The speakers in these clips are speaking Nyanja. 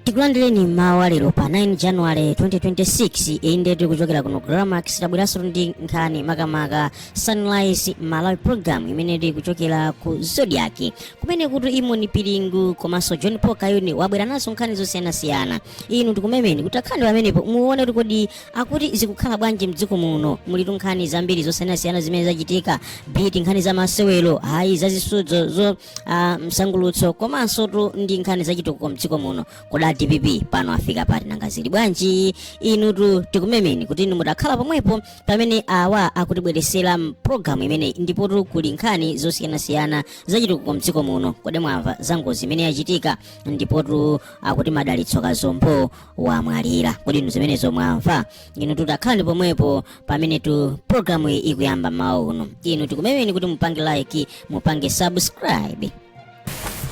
tikulandireni mmawa walero pa 9 january 2026 iyi ndiye tikuchokera kuno gramax tabweranso ndi nkhani makamaka sunrise malawi program imene tikuchokera ku zodiac kumene kuti imon piringo komanso john paul kayuni abwera nazo nkhani zosiyanasiyana inu tikumemeni kuti takhalani pamenepo muone kuti kodi akuti zikukhala bwanji mdziko muno mulitu nkhani zambiri zosiyanasiyana zimene zachitika ndithu nkhani za masewero kaya za zisudzo zo ah, msangulutso komansotu ndi nkhani zachitukuko mdziko muno kodi a dpp pano afika pati nanga zili bwanji inutu tikumemeni kuti inu mutakhala pomwepo pamene awa akutibweretsera mpulogalamu imeneyi ndipotu kuli nkhani zosiyanasiyana zachitukuko mdziko muno kodi mwamva za ngozi imene yachitika ndipotu akuti madalitso kazombo wamwalira kodi inu zimenezo mwamva inutu takhalani pomwepo pamenetu programu iyi ikuyamba mmawa uno inu tikumemeni kuti mupange like mupange subscribe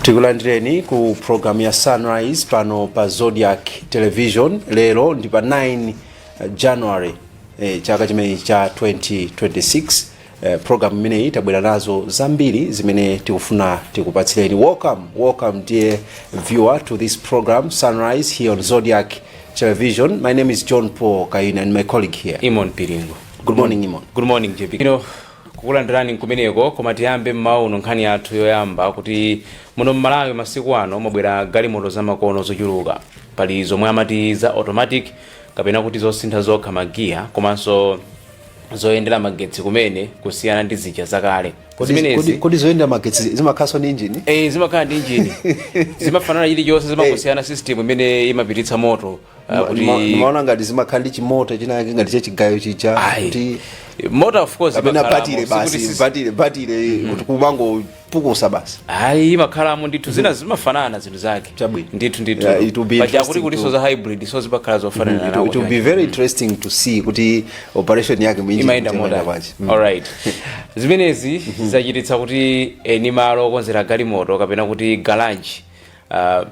tikulandireni ku programu ya sunrise pano pa zodiac television lero ndi pa 9 january eh, chaka chimenechi cha 2026 Eh, program imeneyi tabwera nazo zambiri zimene tikufuna tikupatsireni welcome welcome dear viewer to this program sunrise here on zodiac television my name is john paul kayuni and my colleague here imon piringo good morning imon good morning jp inunso kukulandirani kumeneko koma tiyambe mmawa uno nkhani yathu yoyamba kuti muno mmalawi masiku ano mwabwera galimoto zamakono zochuluka pali zomwe amati za automatic kapena kuti zosintha zokha magiya komanso zoyendera magetsi kumene kusiyana ndi zija zakale Kodi- kodi, zimenezi kodi zoyendera magetsi zimakhalanso ndi injini eh, zimakhala ndi injini zimafanana chilichonse zimangosiyana system imene imapititsa moto ah, kuti ndimaona ngati zimakhala ndi chimota chinake ngati chachigayo chija Ayi. kuti moto of course kapena imakhalamo, batire sikuti basi sis- batire batire kuti kumango pukusa basi ayi imakhalamo ndithu mm-hmm. zina zimafanana zinthu zake chabwino ndithu ndithu yeah, it will be paja kuti kulinso za hybrid so zimakhala zofanana mm-hmm. nawo it will be very interesting to see kuti operation yake mwinji imaenda moda mm. all right zimenezi mm-hmm. zachititsa kuti eni malo okonzera galimoto kapena kuti garage uh,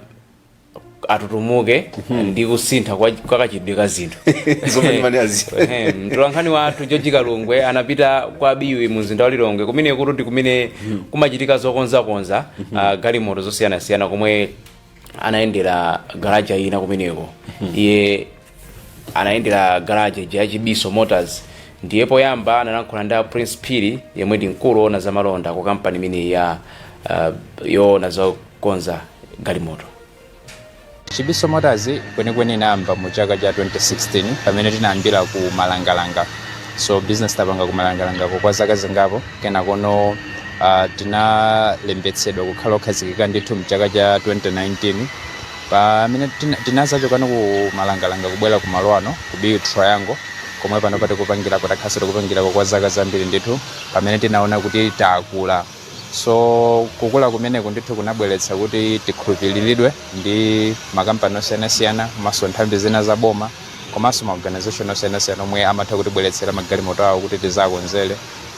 atutumuke ndi kusintha kwa kachitidwe ka zinthu Zomwe ndimanena zi- Ehe, mtolankhani wathu george kalungwe anapita kwa biwi mu mzinda wa lilongwe kumene kuti ndi kumene kumachitika zokonzakonza ah, galimoto zosiyanasiyana komwe anayendera garaja ina kumeneko iye anayendera garaje ya chibiso motors ndiye poyamba analankhula ndi a prince phiri yemwe ndi mkulu woona za malonda ku kampani imeneyi ya uh, yoona zokonza galimoto chibiso motors kwenikweni inayamba mu chaka cha 2016 pamene tinayambira ku malangalanga so business tapanga ku malangalangako kwa zaka zingapo kenakono uh, tinalembetsedwa kukhala okhazikika ndithu mchaka cha 2019 Pamene tina, tinazachokano ku malangalanga kubwera ku malo ano ku Biwi Triangle komwe pano patikupangirako takhalanso tikupangirako kwa zaka zambiri ndithu pamene tinaona kuti takula so kukula kumeneku ndithu kunabweretsa kuti tikhulupiriridwe ndi makampani osiyanasiyana komanso nthambi zina za boma komanso ma organization osiyanasiyana omwe amatha kutibweretsera magalimoto awo kuti tizakonzere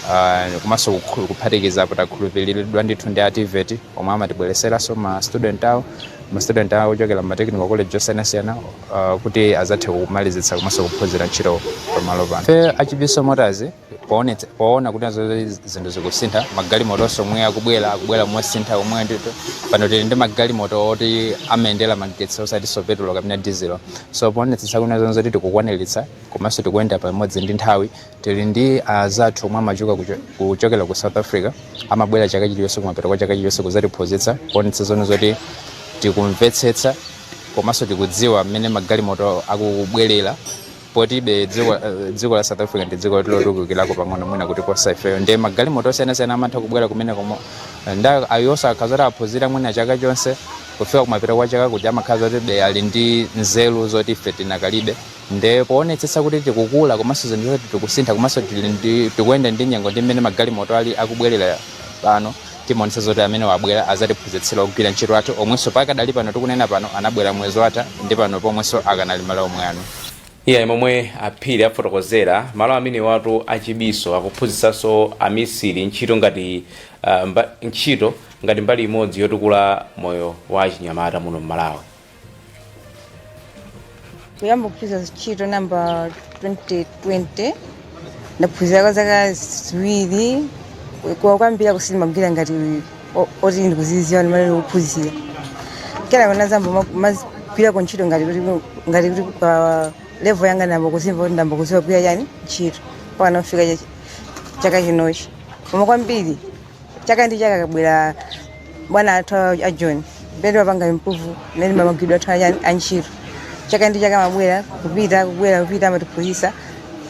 uh, komanso kukhu- kuphatikiza kuti takhulupiriridwa ndithu ndi a TEVET omwe amatibwereseranso ma student awo ma student awo ochokera mu technical college osiyanasiyana uh, kuti azathe kumalizitsa komanso kuphunzira ntchito pamalo pano ife achibiso motors poonetsa- poona kuti nazo zinthu zikusintha magalimoto onse omwe akubwera akubwera mosintha omwe ndithu pano tili ndi magalimoto oti amayendera magetsi osatinso petulo kapena dizilo so poonetsetsa kuti nazo zoti tikukwaniritsa komanso tikuyenda pamodzi ndi nthawi Tili ndi azathu omwe amachoka kuchokera ku South Africa amabwera chaka chilichonse kumapeto kwa chaka chilichonse kuzatiphunzitsa kuonetsa zo- zoti tikumvetsetsa komanso tikudziwa mmene magalimoto akubwerera poti be dziko, dziko la South Africa ndi dziko lotukukirako pang'ono mwina kutiposa ifeyo nde magalimoto osiyanasiyana amatha kubwera kumeneko momwe nde awonso akhala zoti aphunzira mwina chaka chonse kufika kumapeto kwa chaka kuti amakhala kuti be ali ndi nzeru zoti ife tinakalibe nde poonetsetsa kuti tikukula komanso zinthu zoti tikusintha komanso tili ndi- tikuyenda ndi nyengo ndi mmene magalimoto ali akubwerera pano timaonetsa zoti amenewa abwera azatiphunzitsira ogwira ntchito athu omwenso pakadali pano tikunena pano anabwera mwezi watha ndi pano pomwenso akanali malo omwe ano eya momwe aphiri afotokozera malo amenewatu achibiso akuphunzitsanso amisiri ntchito ngati uh, mba, ntchito ngati mbali imodzi yotukula moyo wa achinyamata muno mmalawi kuyamba kuphunzira ntchito ndayamba 2020 ndaphunzira kwa zaka ziwiri koma kwambiri kuti sindimagwira ngati o- oti ndikuziziwa ndimene ndikuphunzira kena kunazayamba kumagwirako ntchito ngati kuti ngati kuti pa level yanga ndayamba kuzimva kuti ndayamba kuziwa kugwira chani ntchito mpaka kufika chaka chinochi koma kwambiri chaka ndi chaka kubwera bwana athu a john pete tapanga improve mmene magwiridwe athu anya- antchito chaka ndi chaka amabwera kupita kubwera kupita amatiphunzitsa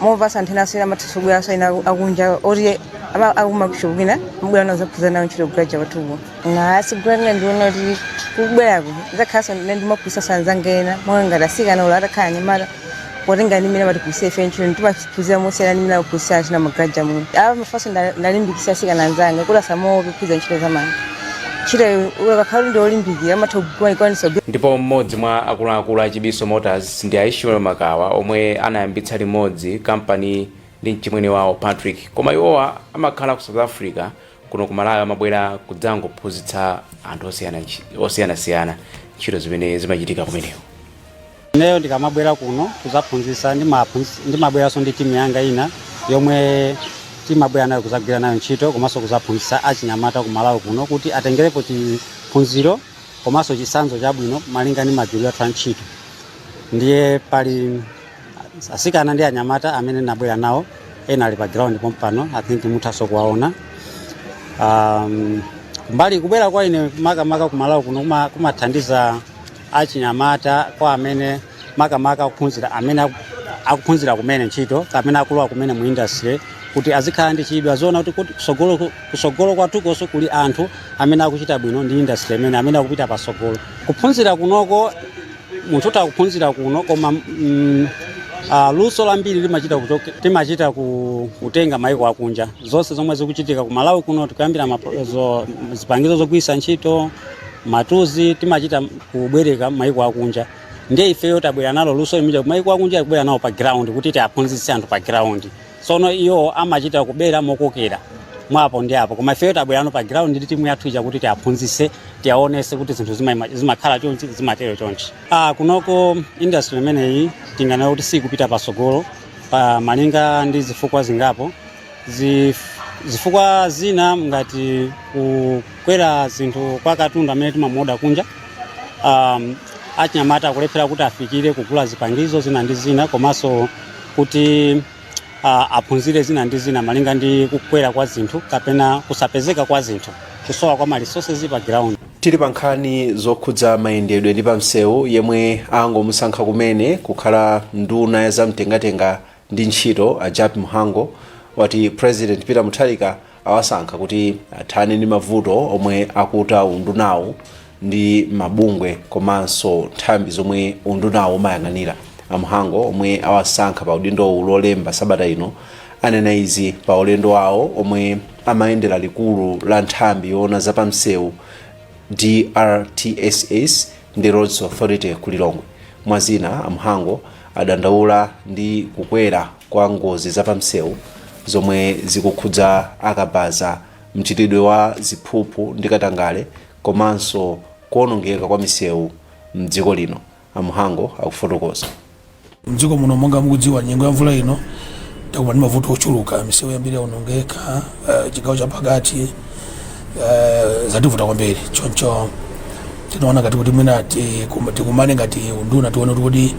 moposa anthu ena asiyena amatisogolera asiyena akunja oti ama- akumashop ena kubwera nawo zaphunzira nawo ntchito ku garage kwathuko ngasigulana ndiona kuti kubwerako zakhalanso ndine ndimaphunzitsa anzanga ena mwana ngati asikana olo atakhala anyamata potenga ndi mmene amatiphunzitsa ife ntchito timaphunzira mosiyana ndi mmene amaphunzitsa achinyamata muno apa mafaso ndalimbikitsa asikana anzanga kuti asamaope kuphunzira ntchito za manja ntchito ukakhala kuti ndiolimbikira amatha kumaikwanisa ndipo mmodzi mwa akuluakulu a chibiso motors ndi a ishmael makawa omwe anayambitsa limodzi kampani ndi mchimwene wawo patrick koma iwowa amakhala ku south africa kuno ku malawi amabwera kudzangophunzitsa anthu osiyana nchi- osiyanasiyana ntchito zimene zimachitika kumeneko ineyo ndikamabwera kuno kuzaphunzisa ndimabweranso ndi timu yanga ina yomwe timabwera nayo kuzagwira nayo ntchito komanso kuzaphunzisa achinyamata ku malawi kuno kuti atengerepo chiphunziro komanso chisanzo chabwino malinga ndi magwiridwe athu a ntchito ndiye pali asikana ndi anyamata amene ndabwera nawo ena ali pa ground pompano i think muthaso kuwaona um, mbali kubwera kwa ine makamaka kumalawi kuno kuma- kumathandiza achinyamata kwa amene makamaka akuphunzira amene aku- akuphunzira kumene ntchito kapena akulowa kumene mu industry kuti azikhala ndi chidwi aziona kuti kuti kusogolo ku- kusogolo kwathukonso kuli anthu amene akuchita bwino ndi industry imene amene akupita pasogolo kuphunzira kunoko munthu utha kuphunzira kuno koma mm, uh, luso lambiri limachita kuchoke- timachita ku- kutenga maiko akunja zonse zomwe zikuchitika ku malawi kuno tikuyambira mapo- zo- zipangizo zogwiritsa ntchito matuzi timachita kubwereka maiko akunja ndiye ifeyo tabwera nalo luso limija maiko akunja ndikubwera nalo pa ground kuti tiaphunzitse anthu pa ground ndiye iwo amachita kubera mokokera mwapo ndi apo koma ifeyo tabwera pa ground ndi timu yathu ija kuti tiaphunzise tiaonese kuti zinthu zima- zimakhala chonchi zimatero chonchi ah, kunoko industry imeneyi tinganena kuti sikupita pasogolo pa malinga ndi zifukwa zingapo zif- zifukwa zina ngati kukwera zinthu kwa katundu amene timamuoda kunja um, achinyamata akulephera kuti afikire kugula zipangizo zina ndi zina komanso kuti uh, aphunzire zina ndi zina malinga ndi kukwera kwa zinthu kapena kusapezeka kwa zinthu kusowa kwa ma resources pa ground tili pa nkhani zokhudza mayendedwe ndi pamsewu yemwe angomusankha kumene kukhala nduna ya zamtengatenga ndi ntchito a jappie mhango wati president peter mutharika awasankha kuti athane ndi mavuto omwe akuta undunawu ndi mabungwe komanso nthambi zomwe undunawu umayang'anira a mhango omwe awasankha pa udindowu lolemba sabata ino anena izi pa ulendo wawo omwe amayendera likulu la nthambi yoona zapamsewu drtss ndi roads authority ku lilongwe mwazina a mhango adandaula ndi kukwera kwa ngozi zapamisewu zomwe zikukhudza akabaza mchitidwe wa ziphuphu ndi katangale komanso kuonongeka kwa misewu mdziko lino a Mhango akufotokoza mdziko muno monga mukudziwa nyengo ya mvula ino takumana ndi mavuto ochuluka misewu yambiri yaonongeka uh, chigawo cha pakati uh, zativuta kwambiri choncho tinaona ngati kuti mwina tikumane ngati unduna tione kuti kodi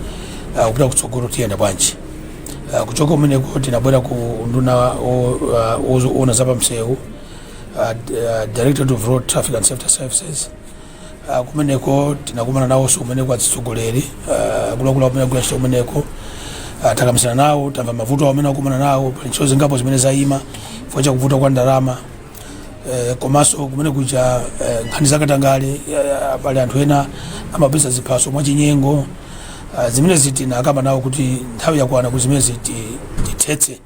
uh, kupita kutsogolo tiyenda bwanji Uh, kuchoka kumeneko tinabwera ku unduna woona za pamsewu uh, uh, directorate of road traffic and safety services uh, kumeneko tinakumana nawonso kumeneko atsogoleri uh, akuluakulu amene akugwira ntchito kumeneko uh, takambisana nawo tamva mavuto amene akukumana nawo pali ntchito zingapo zimene zayima chifukwa cha kuvuta kwa ndalama Eh, komanso kumenekuja eh, nkhani zakatangale eh, pali anthu ena amapeza ziphaso mwachinyengo Ah, zimenezi tinakamba nawo kuti nthawi yakwana kuti zimenezi tithetse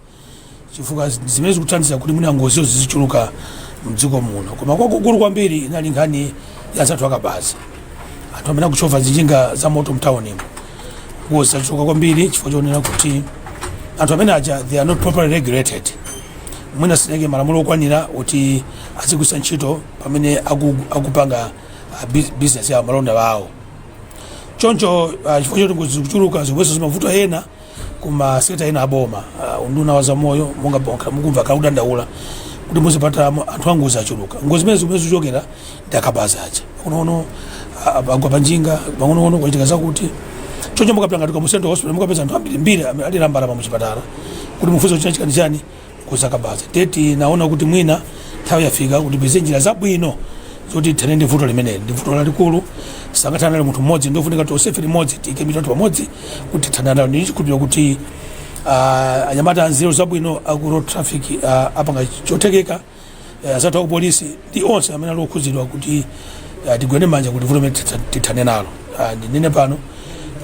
chifukwa zi- zimene zikuthandiza kuti mwina ngozizo zizichuluka mdziko muno koma kwakukulu kwambiri inali nkhani ya anthu akabaza anthu amene akuchova njinga za moto mtaunimu ngozi zachuluka kwambiri chifukwa chonena kuti anthu amenewaja they are not properly regulated mwina sitinaike malamulo okwanira oti azigwiritsa ntchito pamene aku- akupanga ah, bus- business yawo malonda awo choncho ah, chifukwa choti ngozi zikuchuluka zikupereka mavuto ena kuma sekta ena aboma ah, unduna wa zaumoyo monga mwakhala mukumva akudandaula kuti muzipatalamo anthu angozi achuluka ngozi zimene zimene zikuchokera ndi akabaza aja pang'ono agwa panjinga pang'ono kwachitika zakuti choncho mukapita ngati Kamuzu Central Hospital mukapeza anthu ambirimbiri alira mbalama muchipatala kuti mufunse kuti chachitika ndi chani akuti zakabaza ndiye tinaona kuti mwina nthawi yafika kuti tipeze njira zabwino zoti tithane ndi vuto limeneli ndi vuto lalikulu sangathane nalo munthu mmodzi ndiofunika tonsefe limodzi tiike mitu yathu pamodzi kuti tithane nalo ndili ndi chikhulupiriro kuti ah, anyamata anzeru zabwino aku road traffic ah, apanga chotheka eh, anzathu akupolisi ndi onse amene ali okhudzidwa kuti eh, tigwirane manja kuti vuto limeneli titha- tithane nalo Ah, ndinene pano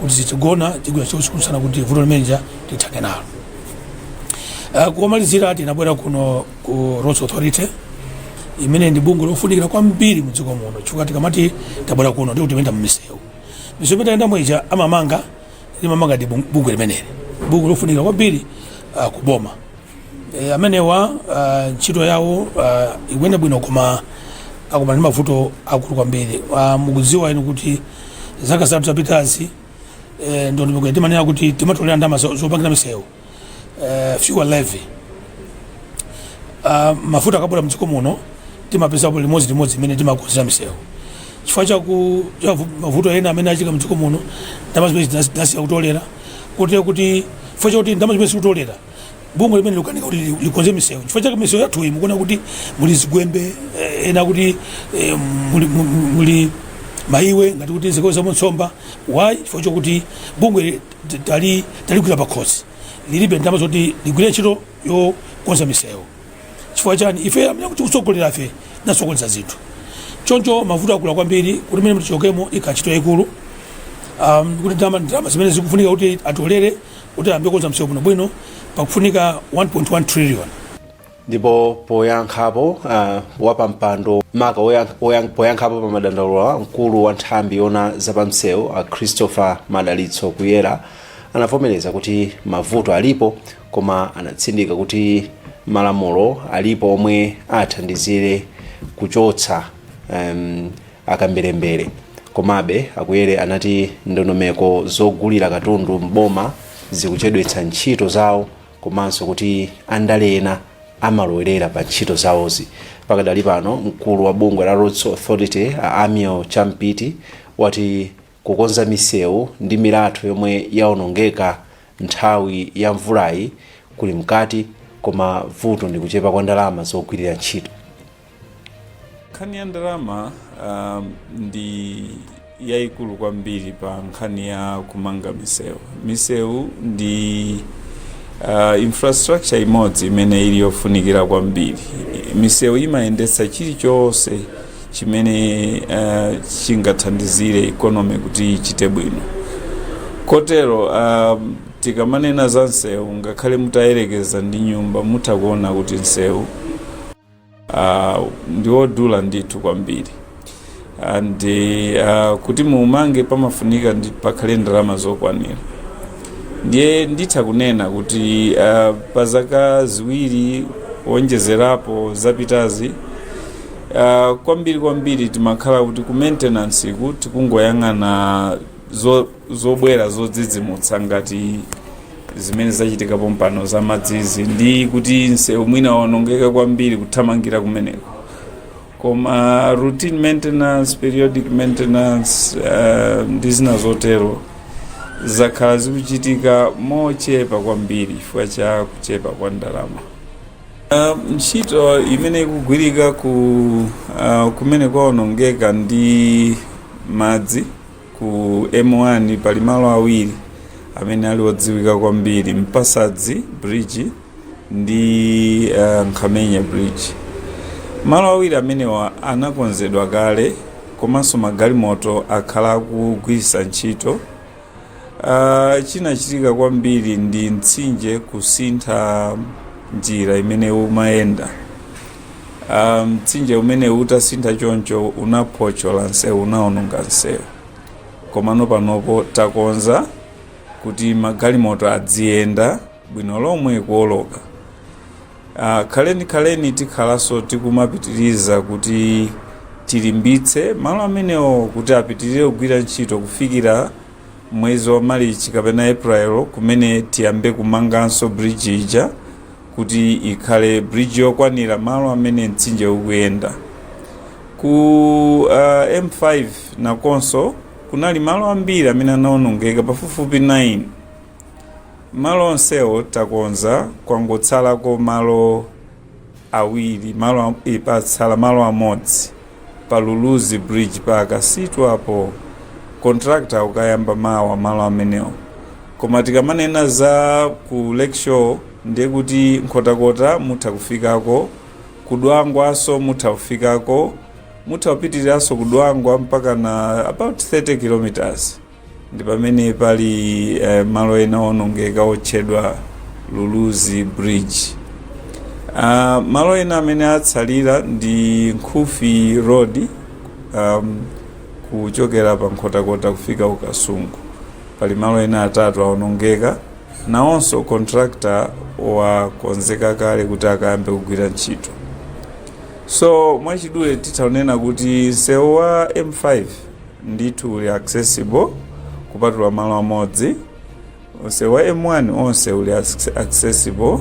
kuti sitigona tigwira ntchito usiku ndi usana kuti vuto limenelija tithane nalo Ah, komalizira tinabwera kuno ku roads authority imene ndi bungwe lofunikira kwambiri mu dziko muno chifukwa tikamati tabwera kuno ndi kuti timayenda mmisewu misewu imene tayendamo ija amamanga limamanga ndi bung- bungwe limeneli bungwe lofunikira kwambiri ah, ku boma E, amenewa ah, ntchito yawo ah, ikuyenda bwino koma akukumana ndi mavuto aakulu kwambiri Ah, mukudziwa inu kuti zaka zitatu zapitazi eh, ndondomeko timanena kuti timatolera ndalama zo- zopangira misewu eh, fuel levy Ah, mafuta akabwera mdziko muno timapeza bwino limodzi limodzi imene timakonzera misewu chifukwa chaku cha vu- mavuto ena amene achitika mdziko muno ndalama zimenezi tinasiya kutolera kotero kuti chifukwa chakuti ndalama zimenezi sitikutolera bungwe limeneli likukanika kuti li- likonze misewu chifukwa chake misewu yathu iyi mukuona kuti muli zigwembe eh, ena kuti eh, muli, mu- mu- muli maiwe ngati kuti zikolowa mu nsomba why chifukwa chokuti bungwe t- tali taligwira pakhosi lilibe ndalama zoti ligwire ntchito yokonza misewu chifukwa chani ife amene kuti kutsogolera ife nasokoneza zinthu choncho mavuto aakulu kwambiri kuti mene mtichokemo ikantchito yayikulu um, kuti ndalama ndalama zimene zikufunika kuti atolere Kuti ayambe kukonza msewu bwinobwino pakufunika 1.1 trillion. ndipo poyankhapo uh, wapampando maka woyank- woyank- poyankhapo pa madandaulowo mkulu wa nthambi yoona zapamsewu a christopher madalitso kuyera anavomereza kuti mavuto alipo koma anatsindika kuti malamulo alipo omwe athandizire kuchotsa um, akamberembere. Komabe, a Kuyera anati ndondomeko zogulira katundu m'boma zikuchedwetsa ntchito zawo komanso kuti andale ena amalowerera pa ntchito zawozi. Pakadali pano, mkulu wa bungwe la Roads Authority, a Amiel Champiti, wati kukonza misewu ndi milatho yomwe yaonongeka nthawi ya mvulayi kuli mkati koma vuto ndi kuchepa kwa ndalama zogwirira ntchito. nkhani ya ndalama um, ndi yayikulu kwambiri pa nkhani ya kumanga misewu misewu ndi uh, infrastructure imodzi imene ili yofunikira kwambiri misewu imayendetsa chilichonse chimene uh, chingathandizire ikonomi kuti ichite bwino kotero um, tikamanena za nsewu ngakhale mutayerekeza ndi nyumba mutha kuona kuti nsewu uh, ndi wodula ndithu kwambiri and uh, kuti muumange pamafunikadi pakhale ndalama zokwanira ndiye nditha kunena kuti uh, pa zaka ziwiri kuonjezerapo zapitazi uh, kwambiri kwambiri timakhala kuti ku maintenance-ku tikungoyang'ana zo- zobwera zodzidzimutsa ngati zimene zachitika pompano za madzizi ndi kuti nsewu mwina waonongeka kwambiri kuthamangira kumeneko koma routine maintenance periodic maintenance uh, ndi zina zotero zakhala zikuchitika mochepa kwambiri chifukwa cha kuchepa kwa ndalama uh, ntchito imene ikugwirika ku uh, kumene kwaonongeka ndi madzi Ku M1 pali malo awiri amene ali odziwika kwambiri, Mpasadzi Bridge ndi uh, Nkhamenya Bridge. Malo awiri amenewa anakonzedwa kale komanso magalimoto akhala akugwiritsa ntchito. Uh, chinachitika kwambiri ndi mtsinje kusintha njira imene umayenda. Ah, mtsinje umenewu utasintha choncho unaphotchola nsewu unaononga nsewu komano panopo takonza kuti magalimoto adziyenda bwino lomwe kuoloka Ah, kwenikweni tikhalanso tikumapitiriza kuti tilimbitse malo amenewo kuti apitirire kugwira ntchito kufikira mwezi wa Marichi kapena April kumene tiyambe kumanganso bridge ija kuti ikhale bridge yokwanira malo amene mtsinje ukuyenda ku uh, M5 nakonso kunali malo ambiri amene anaonongeka pafupifupi 9 malo onsewo takonza kwangotsalako malo awiri malo e, patsala malo amodzi pa Luluzi bridge pa Kasitu apo contractor akukayamba mawa malo amenewo koma tikamanena za ku lakeshore ndiye kuti Nkhotakota mutha kufikako ku Dwangwanso mutha kufikako mutha kupitiriranso ku Dwangwa mpaka na about 30 kilometers ndi pamene pali eh, malo ena owonongeka otchedwa Luluzi bridge Ah, malo ena amene atsalira ndi Nkhufi road um, kuchokera pa Nkhotakota kufika ku Kasungu pali malo ena atatu awonongeka nawonso contractor wakonzeka kale kuti akayambe kugwira ntchito so mwachidule titha kunena kuti msewu wa M5 ndithu uli accessible kupatula malo amodzi msewu wa M1 onse uli acc- accessible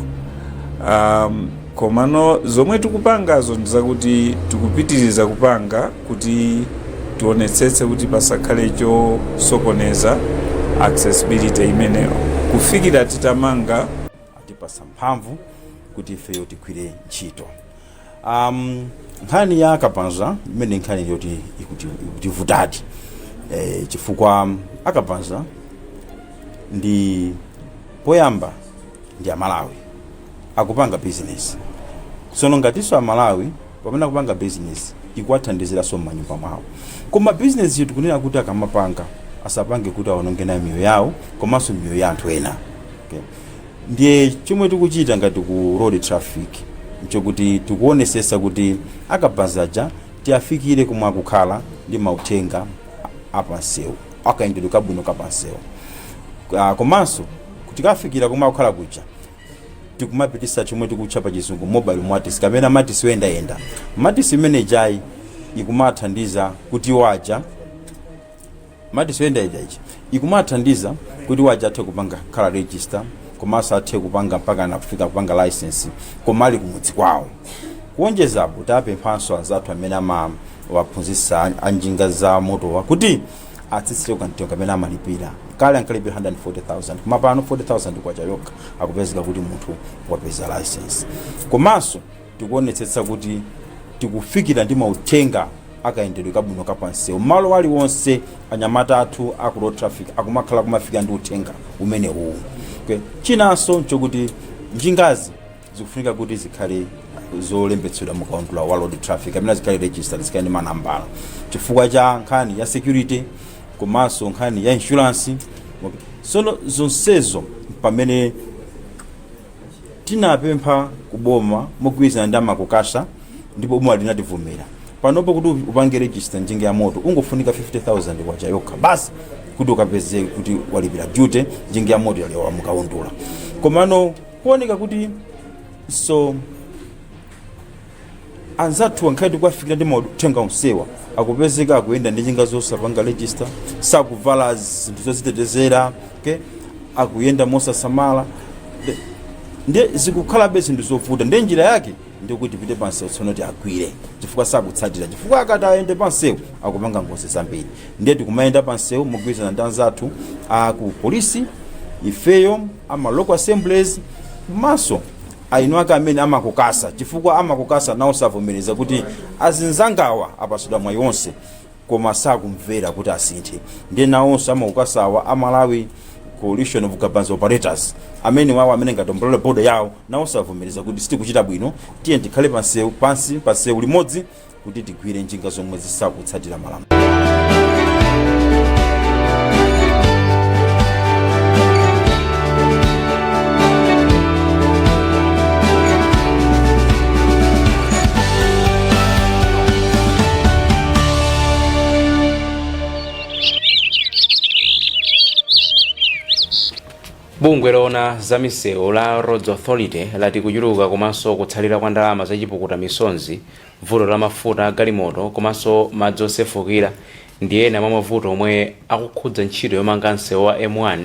um, komano zomwe tikupangazo ndizakuti tikupitiriza kupanga kuti tionetsetse kuti pasakhale chosokoneza accessibility imeneyo kufikira titamanga atipasa mphamvu kuti ifeyo tigwire ntchito Um, nkhani ya akabaza imeneyi nkhani yoti ikuti- ikutivutadi eh, chifukwa akabaza ndi poyamba ndi amalawi akupanga bizinesi tsono ngatinso amalawi pamene akupanga bizinesi ikuwathandiziranso m'manyumba mwawo koma bizinesiyo tikunena kuti akamapanga asapange kuti aononge nayo miyoyo yawo komanso miyoyo ya anthu ena okay. Ndiye chomwe tikuchita ngati ku Road Traffic nchokuti tikuonesesa kuti a kabaza aja tiafikile komwe akukhala ndi mauthenga a pa nsewu, a kayendedwe kabwino ka pa nsewu. Komanso tikawafikila komwe akukhala kuja tikumapitisa chomwe tikutcha pa chizungu Mobile Maltis kapena Maltis yoyenda yenda. Maltis imene ijayi ikumathandiza kuti iwo aja. Maltis yoyendayenda ija ikumawathandiza kuti waja athe kupanga kukhala register komanso athe kupanga mpakana afika kupanga license koma ali kumudzi kwawo kuonjeza apo tapemphanso anzathu amene amawaphunzitsa an- anjinga za motowa kuti atsitsireko kamtengo kamene amalipira kale ankalipira 140000 koma pano 40000 kwacha yokha akupezeka kuti munthu wapeza license komanso Tikuonetsetsa kuti tikufikira ndi mauthenga a kayendedwe kabwino ka pa msewu malo aliwonse. Anyamata athu a ku Road Traffic akumakhala akumafikira ndi uthenga umenewuwu. Chinanso nchokuti njingazi zikufunika kuti zikhale zolembetsedwa mu kaundula wa Road Traffic kapena zikhale registered, zikhale ndi manambala chifukwa cha nkhani ya security komanso nkhani ya insurance. Tsono zonsezo mpamene. Tinapempha ku boma mogwirizana ndi a Macokasa ndipo boma linativomera. Panopo kuti upange register njinga ya moto ungofunika K50,000 yokha basi kuti ukapeze kuti walipira duty njinga ya moto yalowa mu kaundula. Komano kuoneka kuti so anzathuwa ngakhale tikuwafikira ndi mauthenga onsewa akupezeka akuyenda ndi njinga zosapanga register sakuvala zinthu zozitetezera okay? akuyenda mosasamala Ndi- ndiye zikukhalabe zinthu zovuta ndiye njira yake ndikuti tipite pansewu tsono kuti tiwagwire chifukwa sakutsatira chifukwa akati ayende pansewu akupanga ngozi zambiri ndiye tikumayenda pansewu mogwirizana ndi anzathu aku polisi ifeyo ama local assemblies komanso eni ake amene a Macokasa chifukwa a Macokasa nawonso avomereza kuti azinzangawa apasidwa mwayi wonse koma sakumvera kuti asinthe ndiye nawonso a Macokasawa a Malawi coalition of kabaza operators amenewawo amene ngati umbrella body yawo nawonso avomereza kuti sitikuchita bwino tiye tikhale pansewu pansi pansewu limodzi kuti tigwire njinga zomwe sizikutsatira malamulo. bungwe loona za misewu la roads authority lati kuchuluka komanso kutsalira kwa ndalama zachipukuta misozi Vuto la mafuta a galimoto komanso madzi osefukira ndi ena mwa mavuto omwe akukhudza ntchito yomanga msewu wa M1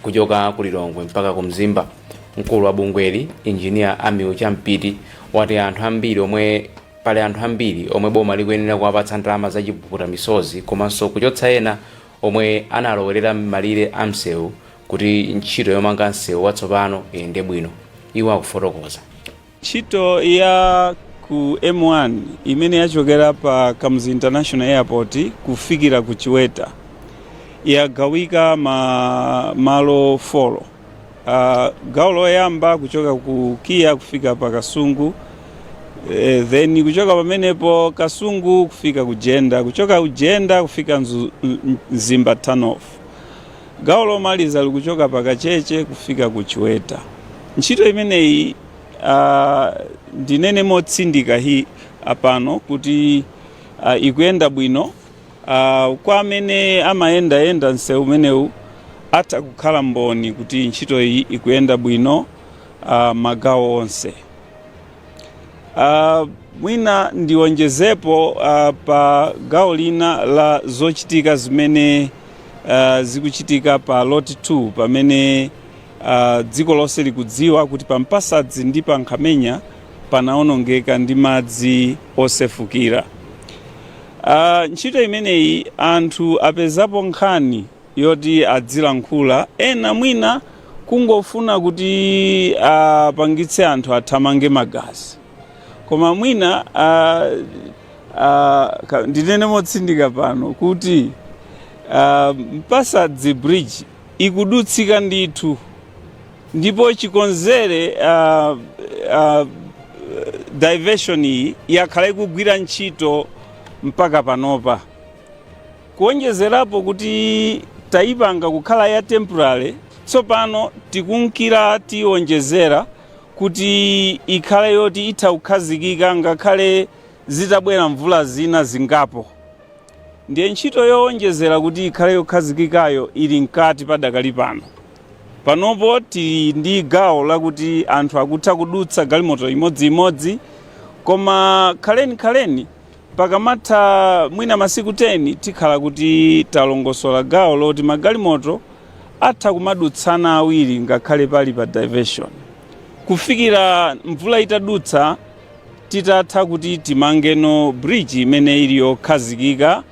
kuchoka ku Lilongwe mpaka ku Mzimba. Mkulu wa bungweli, Engineer Ammiel Champiti, wati pali anthu ambiri omwe boma likuyenera kuwapatsa ndalama za chipukuta misozi komanso kuchotsa ena omwe analowerera m'malire a msewu kuti ntchito yomanga msewu watsopano iyende bwino. Iwo akufotokoza. Ntchito ya ku M1 imene yachokera pa Kamuzu International Airport kufikira ku Chiweta yagawika m'malo folo. Uh, gawo loyamba kuchoka ku Kia kufika pa Kasungu eh, then kuchoka pamenepo Kasungu kufika ku Jenda, kuchoka ku Jenda kufika Mzimba Turn Off. Gawo lomaliza likuchoka pa Kacheche kufika ku Chiweta. Ntchito imeneyi a, ndinene motsindika pano kuti a, ikuyenda bwino a, kwa amene amayendayenda msewu umenewu atha kukhala mboni kuti ntchito iyi ikuyenda bwino a, magawo onse. Uh, mwina ndiwonjezepo uh, pa gawo lina la zochitika zimene uh, zikuchitika pa lot 2 pamene uh, dziko lonse likudziwa kuti pa mpasadzi ndi pa nkhamenya panaonongeka ndi madzi osefukira uh, ntchito imeneyi anthu apezapo nkhani yoti azilankhula ena mwina kungofuna kuti apangitse anthu athamange magazi koma mwina ah, ah, ka- ndinene motsindika pano kuti ah, mpasadzi bridge ikudutsika ndithu ndipo chikonzere ah, ah, diversion iyi yakhala ikugwira ntchito mpaka panopa Kuwonjezerapo kuti tayipanga kukhala ya temporary, tsopano tikunkira tiyiwonjezera kuti ikhale yoti itha kukhazikika ngakhale zitabwera mvula zina zingapo. Ndiye ntchito yowonjezera kuti ikhale yokhazikikayo ili mkati padakali pano. Panopo tili ndi gawo lakuti anthu akutha kudutsa galimoto imodziimodzi koma khaleni khaleni, Pakamatha mwina masiku 10 tikhala kuti talongosola gawo loti magalimoto atha kumadutsana awiri ngakhale pali pa diversion kufikira mvula itadutsa tidzatha kuti timangeno bridge imene ili yokhazikika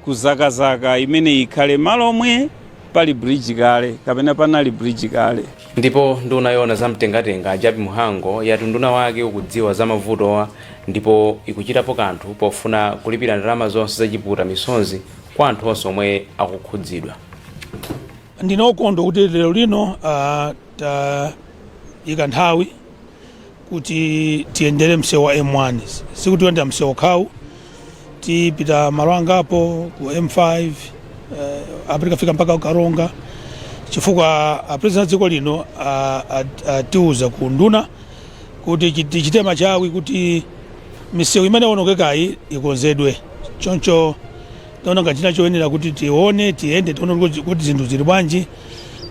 kudzakadzaka imene ikhale m'malo omwe pali bridge kale kapena panali bridge kale. Ndipo nduna yoona za mtengatenga a Jappie Mhango yati unduna wake ukudziwa za mavutowa ndipo ikuchitapo kanthu pofuna kulipira ndalama zonse za chipukuta misozi kwa anthu onse omwe akukhudzidwa. Ndine wokondwa kuti lero lino tayika nthawi. kuti tiyendere msewu wa m1 sikuti tiyenda msewu okhawu tipita malo angapo ku m5 eh, apa tikafika mpaka ukaronga chifukwa apresident a dziko lino a- a- atiuza ku unduna kuti chi- tichite machawi kuti misewu imene yaonongekayi ikonzedwe choncho taona ngati china choyenera kuti tione tiyende tione kuti- kuti zinthu zili bwanji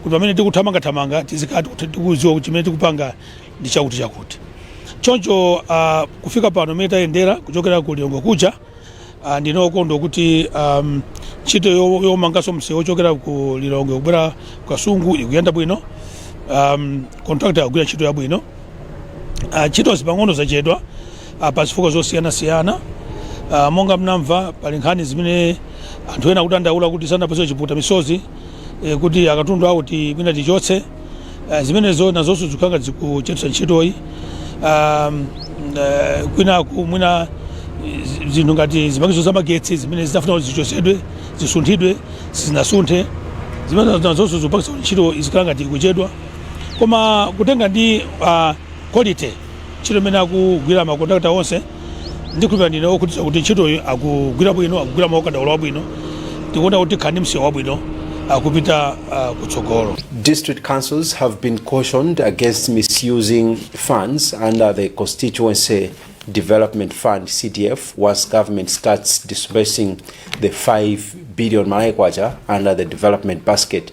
kuti pamene tikuthamangathamanga tizikhala tikuti- tikuziwa kuti chimene tikupanga ndi chakuti chakuti choncho uh, kufika pano mene tayendera kuchokera ku lilongwe kuja uh, ndine okondwa kuti um, ntchito yo- yomanganso msewu wochokera ku lilongwe kubwera ku kasungu ikuyenda bwino um, contractor akugwira ntchito yabwino Ah, ntchito zina pang'ono zachedwa ah, pa zifukwa zosiyanasiyana Ah, monga mnamva pali nkhani zimene anthu ena akudandaula kuti sanapatsidwe chipukuta misozi eh, kuti akatundu awo ti- mwina tichotse Ah, zimenezo nazonso zikukhala ngati zikuchedwetsa ntchitoyi Um, eh, kwinaku mwina eh, zi- zinthu ngati zipangizo za magetsi zimene zinafuna kuti zichotsedwe zisunthidwe sizinasunthe zimenezo nazonso zikupangitsa kuti ntchito izikhala ngati ikuchedwa koma kutenga ndi ah, quality ntchito imene akugwira ma contractor onse ndikhulupira ndine okhutira kuti ntchitoyi akugwira bwino akugwira mwaukadaulo wabwino tikuona kuti tikhala ndi msewu wabwino kupita ah, kutsogolo District councils have been cautioned against misusing funds under the Constituency Development Fund CDF once government starts disbursing the 5 billion Malawi Kwacha under the development basket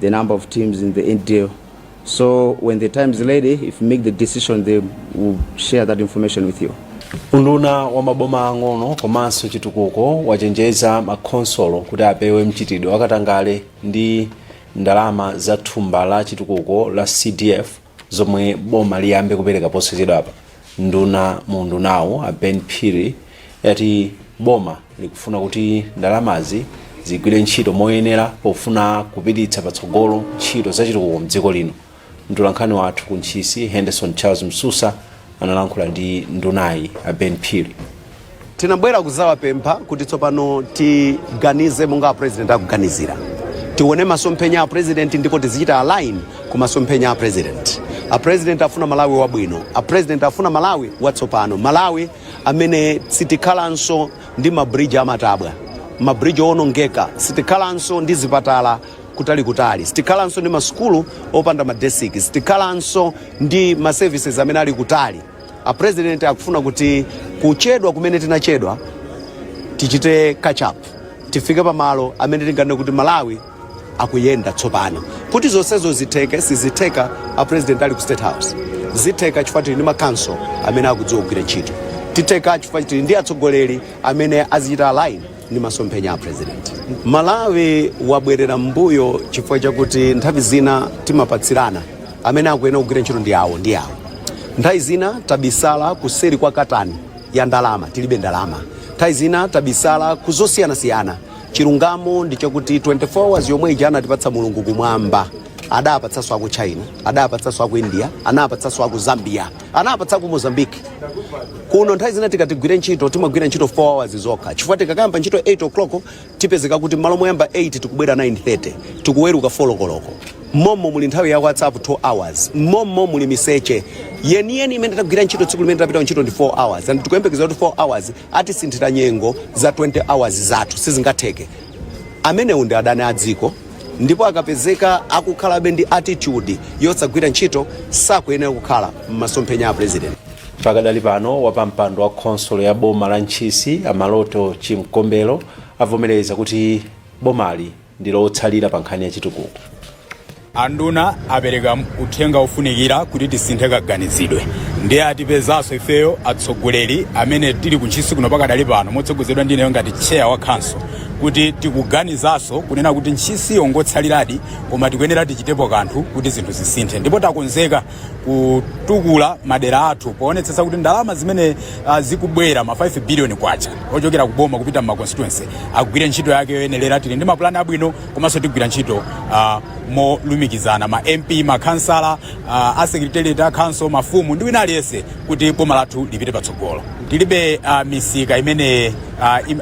the number of teams in the NDL. So when the time is ready, if make the decision, they will share that information with you. unduna wa maboma ang'ono komanso chitukuko wachenjeza makhonsolo kuti apewe mchitidwe wakatangale ndi ndalama za thumba la chitukuko la cdf zomwe boma liyambe kupereka posachedwapa nduna mu undunawu a ben phiri ati boma likufuna kuti ndalamazi zigwire ntchito moyenera pofuna kupititsa patsogolo ntchito zachitukuko mdziko lino mtolankhani wathu ku ntchisi henderson charles msusa analankhula ndi ndunayi a ben phiri tinabwera kuzawapempha kuti tsopano tiganize monga a president akuganizira tione masomphenya a president ndipo tizichita align ku masomphenya a president a president afuna malawi wabwino a president afuna malawi watsopano malawi amene sitikhalanso ndi mabridge amatabwa mabridge owonongeka sitikhalanso ndi zipatala kutalikutali. Sitikhalanso ndi masukulu opanda ma desiki. Sitikhalanso ndi ma services amene ali kutali. A president akufuna kuti kuchedwa kumene tinachedwa tichite catch up, tifike pamalo amene tinganene kuti Malawi akuyenda tsopano. Kuti zonsezo zitheke, sizitheka a president ali ku state house. Zitheka chifukwa tili ndi ma council amene akudziwa kugwira ntchito. Zitheka chifukwa tili ndi atsogoleri amene azichita align ndi masomphenya a president malawi wabwerera mbuyo chifukwa chakuti nthawi zina timapatsirana amene akuyenera kugwira ntchito ndi awo ndi awo nthawi zina tabisala kuseri kwa katani ya ndalama tilibe ndalama nthawi zina tabisala kuzosiyanasiyana chilungamo ndi chakuti 24 hours yomwe ija anatipatsa mulungu kumwamba adapatsanso aku china adapatsanso aku india anapatsanso aku zambia anapatsa ku mozambique kuno nthawi zina tikati tigwire ntchito timagwira ntchito 4 hours zokha chifukwa tikakayamba ntchito 8 o'clock tipezeka kuti mmalo moyamba 8 tikubwera 9:30 tikuweruka 4 lokoloko mmommo muli nthawi ya whatsapp 2 hours mmommo muli miseche yeniyeni imene tagwira ntchito tsiku limene tapita kuntchito ndi 4 hours and tikuyembekeza kuti 4 hours atisinthira nyengo za 20 hours zathu sizingatheke amenewo ndi adani a dziko ndipo akapezeka akukhalabe ndi attitude yosagwira ntchito sakuyenera kukhala m'masomphenya a president pakadali pano wapampando wa khonsolo ya boma la ntchisi a maloto chimkombelo avomereza kuti bomali ndilotsalira pa nkhani ya chitukuko anduna apereka uthenga ofunikira kuti tisinthe kaganizidwe ndiye atipezanso ifeyo atsogoleri amene tili kuntchisi kuno pakadali pano motsogozedwa ndineyo ngati cheya wa khanso kuti tikuganizanso kunena kuti ntchisi yongotsaliradi koma tikuyenera tichitepo kanthu kuti zinthu zisinthe ndipo takonzeka kutukula madera athu poonetsetsa kuti ndalama zimene uh, zikubwera ma 5 billion kwacha ochokera kuboma kupita mma constituency agwire ntchito yake yoyenera tili ndi mapulani abwino komanso tigwira ntchito uh, molumikizana ma mp makhansala uh, asekretariat a council mafumu ndi wina aliyense kuti boma lathu lipite patsogolo tilibe uh, misika imene uh, im,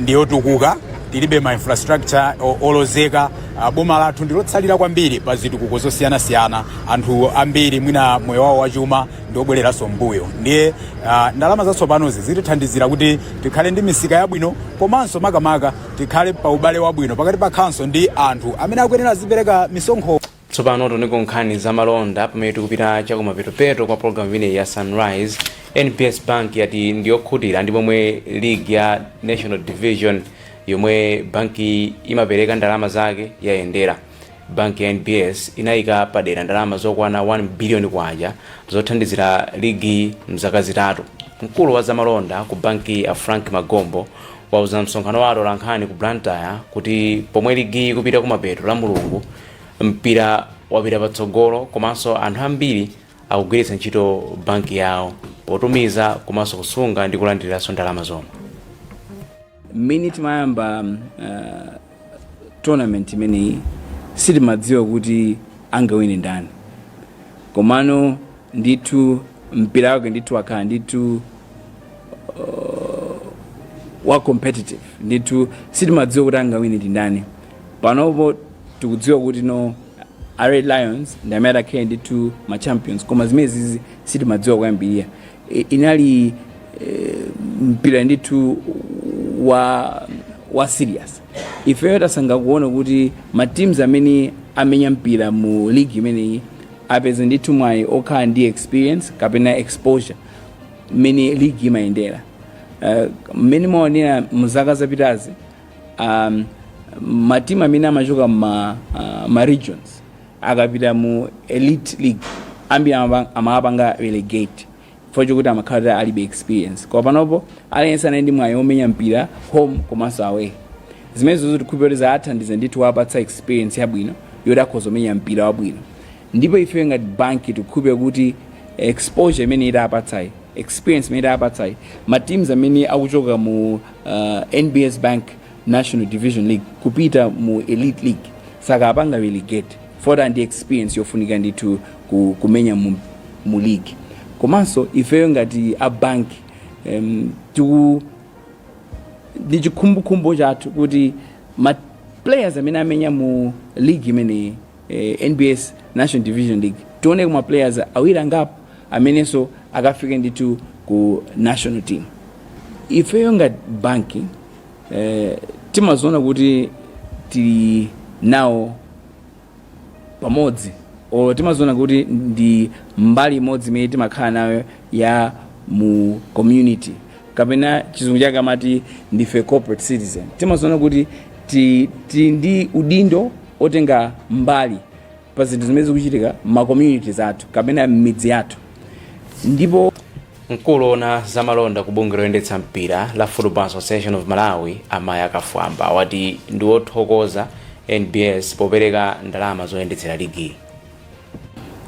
ndiyotukuka tilibe ma infrastructure o- olozeka Ah, boma lathu ndilotsalira kwambiri pa zitukuko zosiyanasiyana anthu ambiri mwina moyo wawo wachuma ndiobwereranso m'mbuyo ndiye ah, ndalama zatsopanozi zitithandizira kuti tikhale ndi misika yabwino komanso makamaka tikhale pa ubale wabwino pakati pa khanso ndi anthu amene akuyenera azipereka misonkho Tsopano tiunikeko nkhani za malonda pamene tikupita chakumapetopeto kwa pologalamu imeneyi ya Sunrise. NBS Bank yati ndiyokhutira ndi momwe ligi ya National Division yomwe bankiyi imapereka ndalama zake yayendera. Banki ya NBS inayika padera ndalama zokwana K1 biliyoni zothandizira ligiyi m'zaka zitatu. Mkulu wa zamalonda ku bankiyi a Frank Magombo wauza msonkhano wa atolankhani ku Blantyre kuti pomwe ligiyi ikupita kumapeto lamulungu, Mpira wapita patsogolo komanso anthu ambiri akugwiritsa ntchito banki yawo potumiza komanso kusunga ndi kulandiriranso ndalama zomwe. Mmene timayamba uh, tournament imeneyi sitimadziwa kuti angawine ndani, komano ndithu mpira wake ndithu wakhala ndithu uh, wa competitive ndithu sitimadziwa kuti angawine ndi ndani. panopo tikudziwa kuti no a red lions ndi amene atakhale ndithu ma champions koma zimene zizi sitimadziwa kuyambirira I- inali eh, mpira ndithu wa wa serious ifeyo tasanga kuona kuti ma teams amene amenya mpira mu league imeneyi apeza ndithu mwayi okhala ndi experience kapena exposure mmene league imayendera Eh, mmene mwaonera mzaka zapitazi um, matimu amene amachoka ma, uh, ma regions akapita mu elite league ambiri amaba- amawapanga relegate chifukwa chokuti amakhala kuti alibe experience koma panopo aliyense anali ndi mwayi omenya mpira home komanso away zimene zizo tikhupira kuti zathandiza ndithu wapatsa experience yabwino yoti akhoza omenya mpira wabwino Ndipo ifeyo ngati bank tikukhulupilira kuti exposure imene tapatsayi, experience imene tapatsayi, ma teams amene akuchoka mu NBS Bank National Division League kupita mu Elite League sakaapanga relegate chifukwa ali ndi experience yofunika ndithu kumenya mu mu league. Komanso ifeyo ngati a bank em ti ndi chikhumbokhumbo chathu kuti ma players amene amenya mu league imeneyi, eh, nbs national division league tioneko ma players awiri angapo amenenso akafike ndithu ku national team ifeyo ngati bank eh, timaziona kuti tili nawo pamodzi or timaziona kuti ndi mbali imodzi imene timakhala nayo ya mu community kapena chizungu chake amati ndife corporate citizen timaziona kuti ti, ti ndi udindo otenga mbali pa zinthu zimene zikuchitika m'ma communities athu kapena m'midzi yathu ndipo mkulu oona zamalonda ku bungwe loyendetsa mpira la football association of malawi a mayamiko kafwamba wati ndi wothokoza nbs popereka ndalama zoyendetsera ligiyi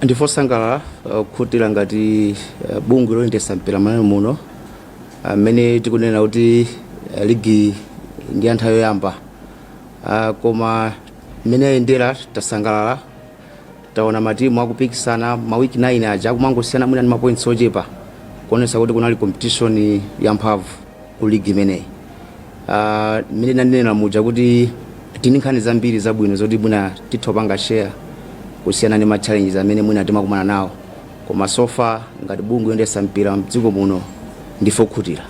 ndife osangalala okhutira ngati uh, bungwe loyendetsa mpira malawi muno amene tikunena kuti uh, ligi ndi ya nthawi yoyamba Ah, koma mmene ayendera tasangalala taona matimu akupikisana ma week nayini aja akumangosiyana mwina ndi mapoints ochepa kuonesa kuti kunali competition yamphamvu mu ligi imeneyi Ah, mmene ndinanena muja kuti tili ndi nkhani zambiri zabwino zoti mwina titha kupanga share kusiyana ndi ma challenges amene mwina timakumana nawo koma so far ngati bungwe loyendetsa mpira mdziko muno ndife okhutira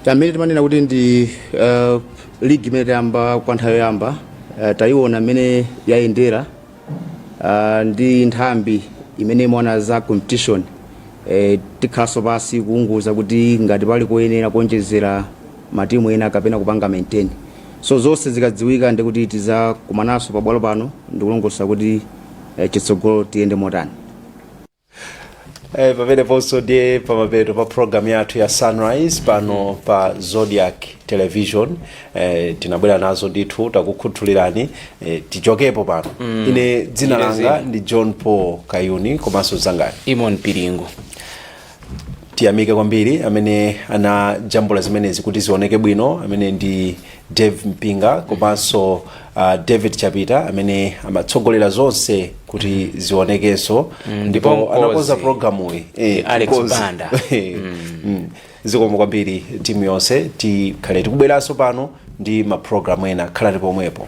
chamene timanena kuti ndi uh, League imene tayamba kwa nthawi yoyamba eh, tayiona mmene yayendera ah, ndi nthambi imene imaona za competition eh, tikhalanso pansi kuwunguza kuti ngati pali koyenera kuonjezera matimu ena kapena kupanga maintain so zonse zikadziwika ndi kuti tizakumananso pabwalo pano ndikulongosola kuti eh, chitsogolo tiyende motani Eh, pameneponso ndiye pamapeto pa program yathu ya sunrise pano pa zodiac television eh, tinabwera nazo ndithu takukhuthulirani eh, tichokepo pano mm. ine dzina langa ndi john paul kayuni komanso mzanga ndi timon piringu tiyamike kwambiri amene anajambula zimenezi kuti zioneke bwino amene ndi Dave Mpinga komanso uh, David Chapita amene amatsogolera zonse kuti zionekenso ndipo anakonza programuyi eh, Alex Banda. Eh, mm. zikomo kwambiri timu yonse tikhale tikubweranso pano ndi maprogramu ena khalani pomwepo